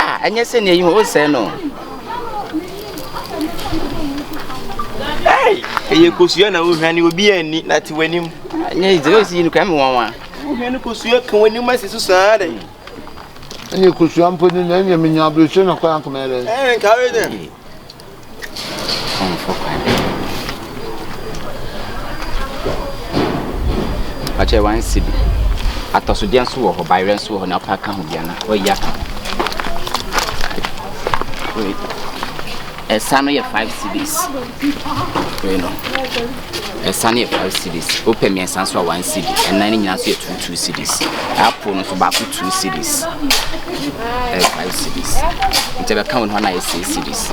Ah, ɛnyɛ sɛ nea yi ho ɔsɛe no ɛyɛ kosua na wohwa ne obi anni na te w'anim ɛnyɛ sɛ ɔsi yi no kame wɔwa wohwa ne kosua ka w'anim asi so saa dɛ ɛnyɛ kosua mpo ne na ɛnyɛ menya aberɛkyɛ na kɔyɛ ankomɛdɛ ɛnkawe dɛ Ɔmmfa kwan. Ɔkyɛ one cedi. Atɔsodeɛ nso wɔ hɔ, bayerɛ nso wɔ hɔ na wopɛ aka ho bia na wayi aka ho. Wei, ɛsa no yɛ five cedis. Wei no. Ɛsa no yɛ five cedis. Wopɛ mmiɛnsa nso a one cedi. Ɛnan no nyinaa nso yɛ two two cedis. Apple no nso baako two cedis. Ɛyɛ five cedis. Nti ɛbɛka wɔn hɔ na ayɛ six cedis.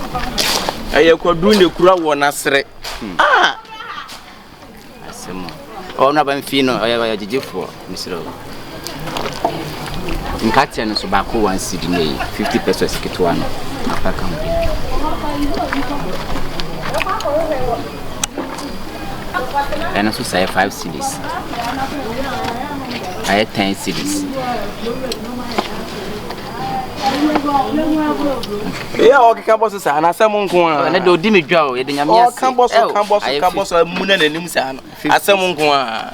Ɛyɛ kwaduru na ekura wɔ n'asrɛ. Hmm. Ah! Asɛm o. Ɔno aba mfii no ɔyɛ ɔyɛ gyegyefoɔ. Mesrɛ wo nkateɛ no so baako one cedi na ɛyɛ fifty pesos ketewa no apa ka ho. ɛno nso sɛ yɛ 5 cities ayɛ 10 cities eya ɔkeka bɔ so saa anasɛm nko a ne de ɔdi me dwa o yɛde nyame ase ɔka bɔ so ka bɔ so ka bɔ so amu na n'anim saa no asɛm nko a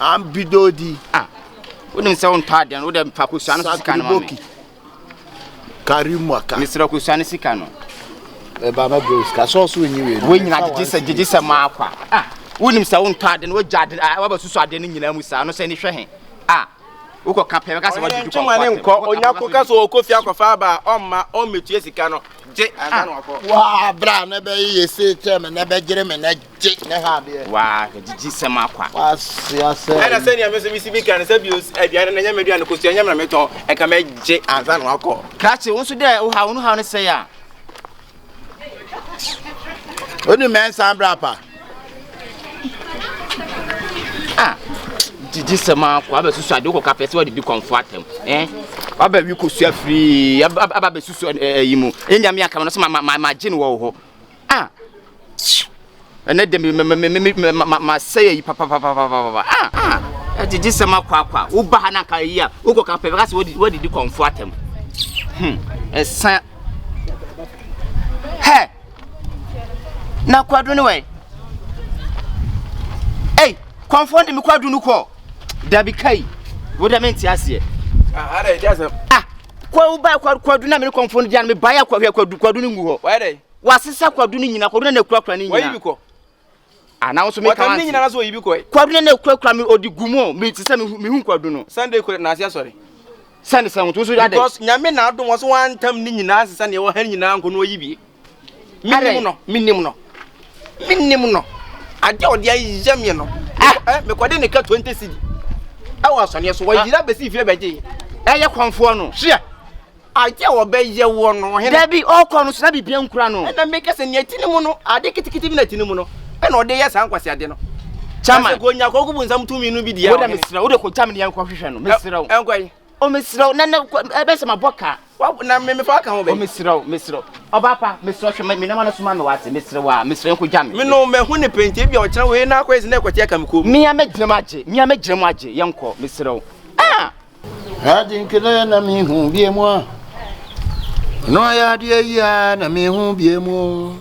Ambi dodi. Ah, wonim sɛ wontɔ adeɛ no wodɛ mfa kosua no sika no ma me kari mwaka mesrɛ kosua no sika no ɛba ma bro sika sɛ ɔso nyi wei wei nyina gyegye sɛ gyegye sɛ ma akwa ah wonim sɛ wontɔ ade no wogya ade ah, waba susu ade no nyinaa mu saa no sɛ ne hwɛ he ah wokɔ ka pɛ bɛka sɛ wɔde dukɔ nkɔ ne nkɔ onya ko ka sɛ ɔkɔ fie akɔfa aba ɔmma ɔmmetua sika no gye ansa na wakɔ waa bra na bɛyɛ yɛ se kyɛ me na bɛgyere me na gye ne ha adeɛ. Waa gyegye sɛm akwa. Waa se asɛ. Ɛna sɛ nea me so me si bi kan sɛ bi aduane na nyame aduane kosua nyame na me tɔn ɛka me gye ansa na wakɔ. Krakye wo so dɛ wo ha wo no ha no sɛ ya. Oni mɛnsa bra pa. Ah. Gyegye sɛm akwa abɛ susu ade wokɔ kapɛ sɛ wɔde bi kɔnfo atɛm. Eh. Wabɛ wi kosua free aba bɛ susu ɛyi mu. Ɛnyame akama no so ma ma ma gye no wɔ hɔ. Ah! Tchiu! Ɛnnɛ deɛ me me me me ma ma masɛe ayi papapapapapa. Ah! Ah! Ɛgyegye sɛm akwaakwa. Woba ha na nka ayi a wokɔ ka pɛ bɛka sɛ wadi wadi di kɔnfo atɛm. Hmm. Ɛsa. Hɛ! Na kwadu ne wɛn? Ei! Kɔnfo de me kwadu no kɔ. Dabi kai. Wo deɛ mente aseɛ. Ah! Ada ɛdi asɛm. Ah! kwawu ba kwadu kwadu na mene kɔmfo no gya no mebae a kwahwɛ kwadu kwadu no ngu hɔ wayɛ dɛ wasesa kwadu no nyina kwadu na na kurakura ne nyina wayi bi kɔ ana nso meka wansi nyina na so oyi bi kɔ kwadu na na kurakura me odi gu mu me te sɛ mehu kwadu no sunday kɔ na asia sɔre sɛne sɛ ho to so yɛ dɛ because nyame na adom wɔ so wantam ne nyina sesa ne ɛwɔ ha nyina nko no oyi bi Adɛn? Mennim no, mennim no, mennim no. Adeɛ a ɔde ayɛ me no, Ah! mekɔ- eh, mekɔde ne ka 20 cedi ɛwɔ asɔneɛ so. Wayiri abɛsi fie bɛgye. Ɛyɛ kɔmfoɔ no. Hwɛ, adeɛ a wɔbɛyɛ woɔ no, ɔhene. Dabi, ɔkɔ no so na biribiara nkura no. Ɛna meka sɛ nea ɛti ne mu no, ade ketekete bi na ɛti ne mu no, ɛna ɔde yɛ saa nkwaseade no. Chairman. Ɛsɛ kɔ nya kɔ kubu nsam tumi no bi deɛ. Wo dɛ ɔhene. mesrɛ wo de kɔgya me ne yɛnkɔhwehwɛ no mesrɛ wo. Ɛ- ɛnkɔ yi. O mesrɛ wo, na na ɛbɛ sɛ mabɔ ka. Na me mefa aka ho bɛ. O mesrɛ wo, mesrɛ wo. Ɔbaa pa, mesrɛ wo, hwɛ me nneɛma no so ma me wate, mesrɛ wo a, mesrɛ wo nkogya me. Me no, mahu ne pɛ nti, ebia ɔkyena wei na akɔyɛ sɛ na ɛkɔte aka me kɔn mu. Me a mɛgyina mu agye, me a mɛgyina mu agye, yɛnkɔ, mesrɛ wo. Ah! Ade nkene na mehu bie mu a, ɔno ayɛ adeɛ yi a na mehu bie mu.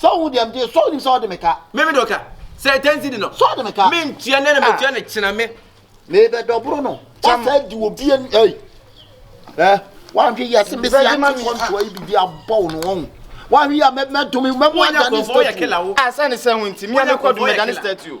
sɛ wohu deɛ mdeɛ sɛ wonim sɛ wode me ka me mede ka sɛ tansi di no sɛ wode me ka mentua nɛ na ah. metua no kyena me mebɛdɔboro no wasa di wɔ bie no ei ɛ woanhwe yɛ se mesi ate kɔntoa yi biribi abɔ wo no ɔhu woanhwe yɛ mɛdome mɛmu adane statue asane sɛ ho nti meamekɔdome dane statue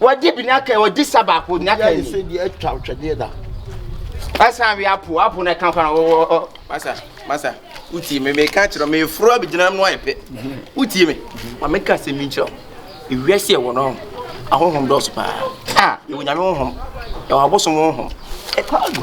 Wɔde bi na kan wɔde sa baako na kan ni. Yɛ de atwa twɛdeɛ da. Asa wi apo apo na kan kan wɔ. Masa masa uti me me ka kyerɛ me furo abegyina no ayɛ pɛ. Uti me. Ma me ka sɛ me nkyerɛ. Ewia sɛ wɔ no. Ahohom dɔso paa. Ah, yɛ wonyame honhom. Yɛ wɔ abosom honhom. Ɛkɔ agu.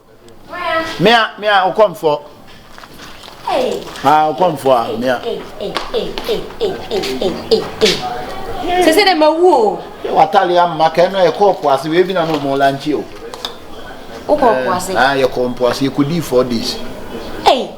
Mea, mea, ɔkɔmfoɔ. Ah, ɔkɔmfoɔ a, mea. Sɛ sɛ dɛ ma wu o. Watale ama kɛn no yɛ kɔɔ po ase wei bi na no mo lanchi o. Wokɔ po ase. Ah, yɛ kɔɔ po ase yɛ kɔ di four days. Hey.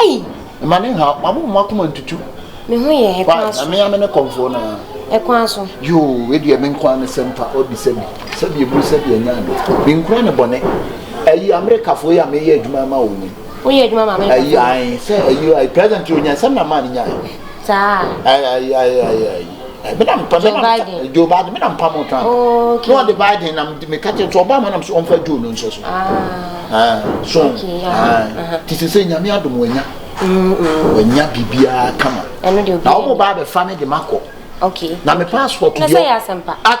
Ei! Mma ne nhaw, ma mo akoma ntutu. Me ho yɛ he kwan so? Why, na me a me ne kɔmfoɔ no ara. Ɛkwan so? Yoo, wei deɛ me nko ara ne sɛm fa, ɔbi sɛ bi, sɛ bi eburu sɛ bi anya ade. Me nkura ne bɔne. Ayi, Amerikafoɔ yi a meyɛ adwuma ama wɔn yi. Woyɛ adwuma ma Amerikafoɔ? Ayi, ae, sɛ ayi, ayi, present yi onyae, sɛm na maa ne nyae. Saa? Ae, ae, ae, ae, ae. Joe Biden. Joe Biden, me na mpamoo Trump. Oh, okay. Na ɔde Biden nam de meka kyerɛ nti ɔbaa mu nam sɛ ɔmfa Joe no nhyɛ so. Ah. ah so. Okay, yeah. Ah. Uh-huh. Ti sɛ sɛ nyame adom wanya. Wanya biribiara kama. Ɛno de obi. Na wɔn ba abɛfa me de ma kɔ. Okay. Na me passport yɔ. Na sɛ yɛ asɛmpa. Ah.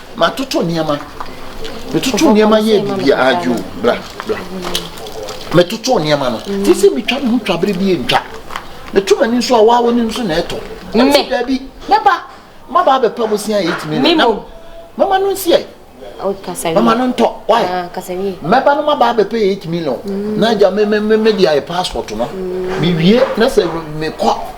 Matoto nneɛma. Metoto nneɛma yɛ biribi a adwo bra bra. Metoto nneɛma no. Mm. Te sɛ metwa me ho twa bere bi ntwa. Meto m'ani nso a waa w'anim nso na ɛtɔ. Mme. Dabi mɛba maba abɛpa mu sia eight million. Memo. Mama no nsi ɛ. Mama no ntɔ. Why? Ah, mɛba no maba abɛpɛ eight million. Mm. Na agya me me me me de ayɛ passport no. Mm. Mewie na sɛ mekɔ.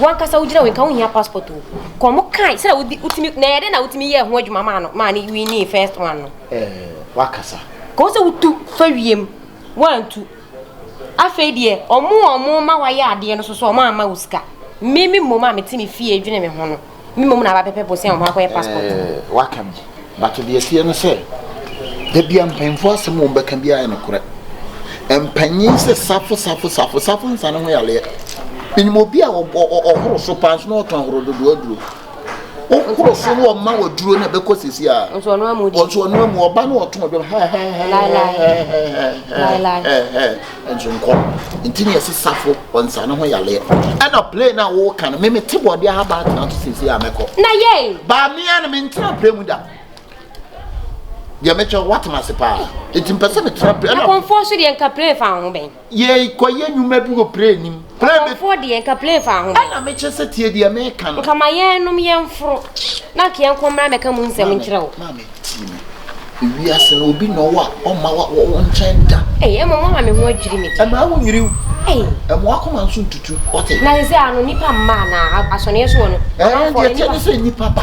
Wankasa wogyina wo nka wo hia passport o. Kɔ mo kai sɛ wodi wotimi na yɛde na wotimi yɛ ho adwuma maa no maa ne winning first one no. Eh wakasa. Kɔ sɛ wotu fa wiem wantu. Afei deɛ ɔmo ɔmo ma wayɛ adeɛ no so so ɔmo ama wo sika. Mimi mmom a mete me fie dwene me ho no. me mmom na abɛpɛpɛ bosea wɔn akɔyɛ passport. Eh, waka bi but deɛ ɛteɛ no sɛ dabi a mpanyinfoɔ asɛm wɔn bɛka bi ayɛ no korɛ mpanyin sɛ safo safo safo safo nsa ne ho yaleɛ menim obi a ɔhoro so paa nso na ɔtɔn ahoro dodoɔ aduro wokoro so no ɔma wɔ duro na ɛbɛkɔ sisi a nso ɔno amu ɔba no ɔtɔn dwom hɛhɛhɛhɛhɛhɛhɛhɛhɛ Nsonkɔ nti na yɛsi safo wɔ nsa no ho yaleɛ. Ɛna play na wɔwɔ kan no, mimi te bɔdeɛ ha baa tena to siesie a mɛkɔ. Na yɛi. Baa mea no mentena play mu da. Deɛ mɛtwa wɔatena ase paa. Nti mpɛ sɛ metena play. Na kɔnfoɔ so deɛ nka play fa ho bɛn. Yɛi kɔ yɛ nnwuma bi wɔ play nim. Kɔmfoɔ deɛ nka plane fa ho. Ɛna me kyɛ sɛ tie deɛ me ka no. Nka ma yɛn nom yɛn foro. Na nka yɛn nkɔmmra mɛ ka mu nsɛm nkyerɛ wo. Maame tie me. Ewi ase no obi na ɔwɔ a ɔma wa wɔ nkyɛn da. Ɛyɛ ɛmɔ mo ama me ho adwiri me deɛ. Ɛma wo nwiri wo. Ɛyɛ. Ɛmɔ akoma nso ntutu wɔte. Na sɛ sɛ ano nipa mma na asɔneɛ soɔ no. Ɛyɛ deɛ kyɛ ne sɛ nipa ba.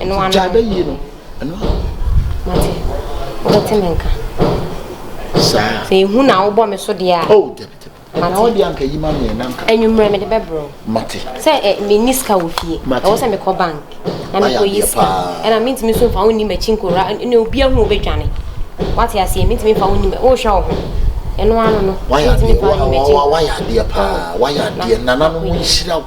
Ɛno ano. Gyae bɛyie no, ɛno ano. Mate, wobɛte me nka. Saa. Sɛ ehu na wobɔ me so deɛ a. Oh, dabi dabi. Ɛna wo deɛ anka yi ma meɛ na nka. Anwummerɛ mede bɛbrɛ. Mate. Sɛ eh, menni sika wɔ fie. Mate. Ɛwɔ sɛ mekɔ bank na mekɔ yi sika. Ɛna mentumi nso mfa wo nni m'akyi nkora ne obi ahu wobɛdwane. Wate aseɛ mentumi mfa wo nni m'akyi. Wohwɛ wo ho. Ɛno ano no. Wayɛ adeɛ, wayɛ adeɛ paa, wayɛ adeɛ, nananom nhyira wo.